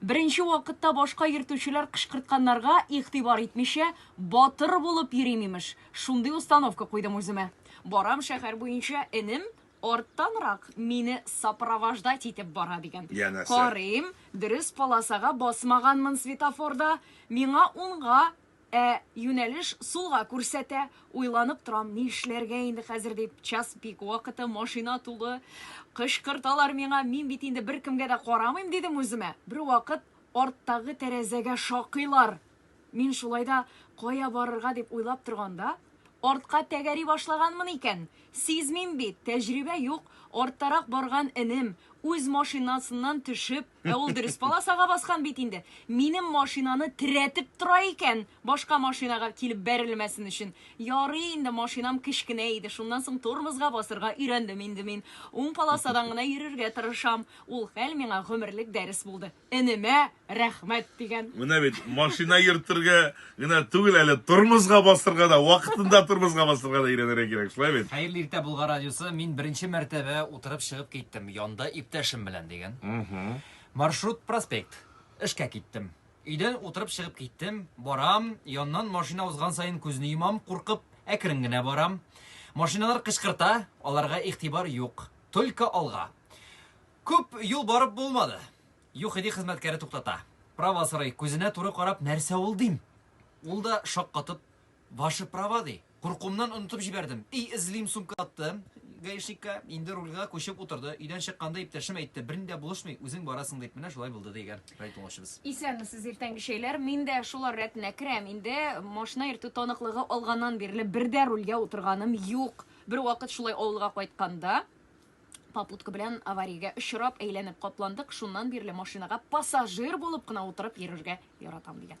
Беренче вакытта башка йөртүчеләр кычкыртканнарга игътибар итмичә, батыр булып йөрим, имеш. Шундый установка куйдым үземә. Барам шәһәр буенча, энем арттанрак мине сопровождать итеп бара, дигән. Янәсе. Карыйм, дөрес полосага басмаганмын светофорда, миңа унга Ә юнәлеш сулга күрсәтә. Уйланып торам, ни эшләргә инде хәзер дип. Час пик вакыты, машина тулы. Кычкырталар миңа, мин бит инде беркемгә дә карамыйм, дидем үземә. Бервакыт арттагы тәрәзәгә шакыйлар. Мин шулай да кая барырга дип уйлап торганда. Артка тәгәри башлаганмын икән. Сизмим бит, тәҗрибә юк, арттарак барган энем, үз машинасыннан төшеп, ә ул дөрес полосага баскан бит инде, минем машинаны терәтеп тора икән, башка машинага килеп бәрелмәсен өчен. Ярый инде, машинам кечкенә иде, шуннан соң тормозга басырга өйрәндем инде мин. Уң полосадан гына йөрергә тырышам. Ул хәл миңа гомерлек дәрес булды. энемә рәхмәт дигән. Менә бит, машина йөртергә генә түгел әле, тормозга басырга да, вакытында тормозга басырга да өйрәнергә кирәк, шулай бит? Хәерле иртә Болгар радиосы, мин беренче мәртәбә утырып чыгып киттем, янда иптәшем белән дигән. Маршрут проспект. Эшкә киттем. Өйдән утырып чыгып киттем, барам, яннан машина узган саен күзне йомам, куркып, әкрен генә барам. Машиналар кычкырта, аларга игътибар юк. Только алга. Күп юл барып булмады. ЮХИДИ хезмәткәре туктата. Права сорый, күзенә туры карап, нәрсә ул дим? Ул да шаккатып, Ваше права ди. Куркуымнан онытып җибәрдем. И эзлим сумка аттым гаишникка, инде рульга күчеп утырды. Өйдән чыкканда иптәшем әйтте, берни дә булышмый, үзең барасың дип, менә шулай булды, дигән рай тыңлаучыбыз. Исәнмесез, иртәнге чәйләр. Мин дә шулар рәтенә керәм. Инде машина йөртү таныклыгы алганнан бирле бер дә рульгә утырганым юк. Бервакыт шулай авылга кайтканда, Попутка белән авариягә очрап әйләнеп капландык, шуннан бирле машинага пассажир булып кына утырып йөрергә яратам, дигән.